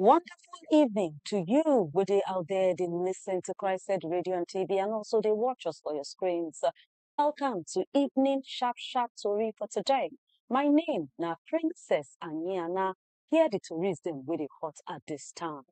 Wonderful evening to you, good day out there. They listen to Christ Said Radio and TV, and also they watch us for your screens. Welcome to Evening Sharp Sharp Tori for today. My name na Princess Aniana. Here the tourists them with the hot at this time.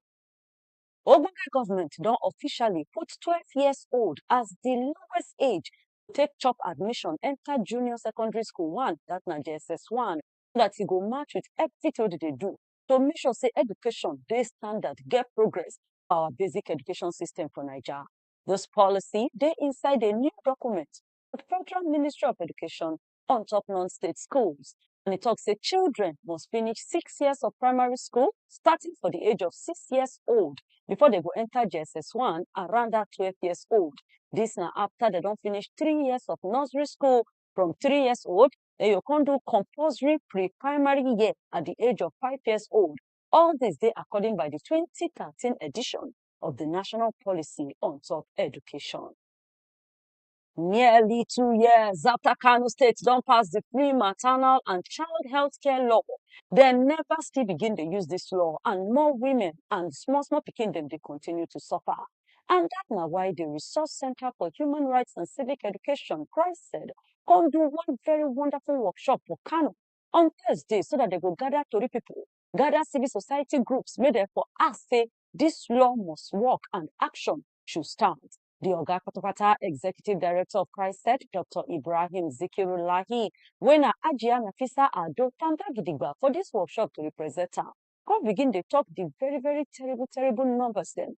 Ogbonge government don officially put 12 years old as the lowest age to take chop admission enter junior secondary school one, that na JSS one, so that he go match with everything they dey do to make sure sey education dey standard, get progress for our basic education system for Naija. Dis policy dey inside a new document of Federal Ministry of Education on top non-state schools and e talk sey children must finish six years of primary school starting from de age of six years old before dem go enter JSS one around dat twelve years old. Dis na after dem don finish three years of nursery school from three years old den you go kon do compulsory pre primary year at di age of five years old, all dis dey according by di twenty thirteen edition of di national policy on top education. Nearly two years after kano state don pass di free maternal and child health care law, dem neva still begin dey use dis law and more women and small small pikin dem dey continue to suffer. and dat na why di Resource Centre for Human Rights and Civic Education, RHCCHED, come do one very wonderful workshop for Kano on Thursday so dat dem go gather tori pipo, gather civil society groups make dem for ask say dis law must work and action should start. Di oga patapata executive director of RHCCHED, Doctor Ibrahim Zikirullahi, wey na Hajiya Nafisa Ado tanda gidigba for dis workshop to represent am. come begin dey talk the very very terrible terrible numbers dem.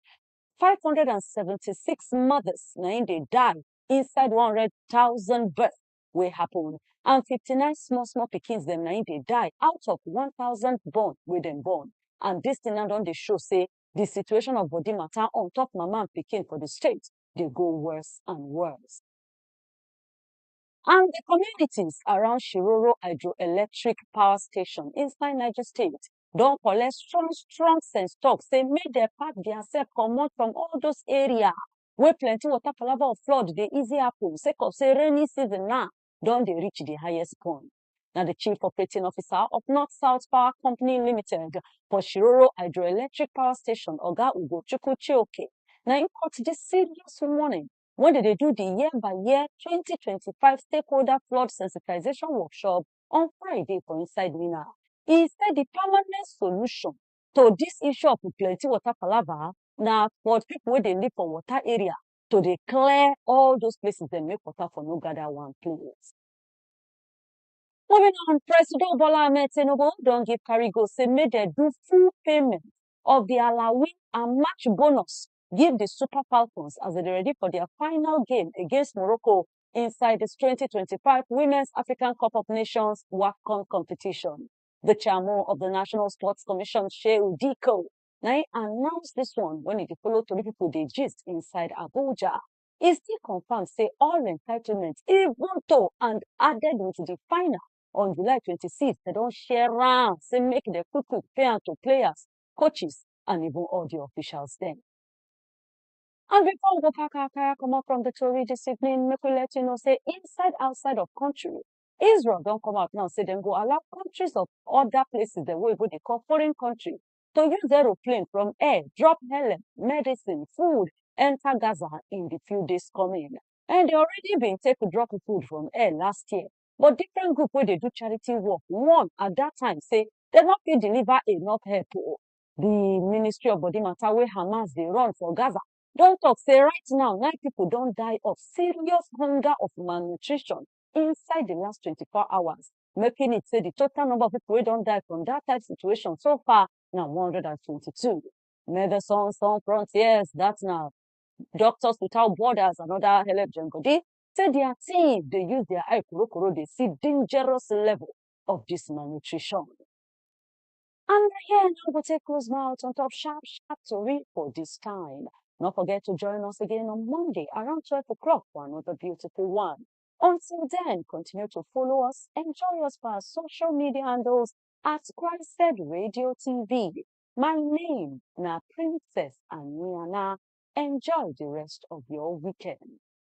Five hundred and seventy six mothers na im dey die inside one hundred thousand birth wey happen and fifty nine small small pikins dem na im dey die out of one thousand born wey dem born and dis thing now don dey show sey the situation of body matter on top mama and pikin for the state dey go worse and worse. and di communities around Shiroro hydroelectric power station inside Niger state don collect strong strong sense talk say make dem pack dia sef comot from all those area wey plenty water palava of flood dey easy happen sake of say rainy season na don dey reach di highest point. Na di chief operating officer of north south power company limited for Shiroro hydroelectric power station oga Ugochukwu Chioke na im cut dis serious warning when they dey do the year by year 2025 stakeholder flood sensitization workshop on Friday for inside Mina. He said the permanent solution to this issue of plenty water palava na for people wey dey live for water area to dey clear all those places dem make water for no gather one place. Moving on, President Bola Ahmed Tinubu don give carry go say make dem do full payment of the allowing and match bonus give di Super Falcons as dem dey ready for dia final game against Morocco inside dis twenty twenty five Women's African Cup of Nations WAFCON competition. Di chairmo of di National Sports Commission Shehu Diko na im announce dis one wen e dey follow tori pipo dey gist inside Abuja. E still confam say all entitlement even though and added wit di final on July twenty six dem don share am say make dem quick quick pay am to players, coaches and even all di officials dem. And before we go pack our kaya comot from di tori dis evening, make we let you know say inside outside of country, Israel don come out now say dem go allow countries of other places dem wey oyibo dey call foreign country to use aeroplane from air drop help, medicine, food enter Gaza in di few days coming. And dem already bin take drop food from air last year but different group wey dey do charity work warn at dat time sey dem no fit deliver enough help oh. Di ministry of body matter wey Hamas dey run for Gaza don talk sey right now nine pipu don die of serious hunger of malnutrition inside di last twenty four hours making it sey di total number of pipu wey don die from dat type situation so far na one hundred and twenty two. Medecines sans frontiers dat na doctors without borders and other helep join body say dia team dey use dia eye korokoro dey see dangerous level of dis malnutrition. And na here na we go take close mouth on top sharp sharp tori for dis time. No forget to join us again on Monday around twelve o'clock for another beautiful one. Until then, continue to follow us, enjoy us for our social media handles at Christ Radio TV. My name na Princess Aniana. Enjoy the rest of your weekend.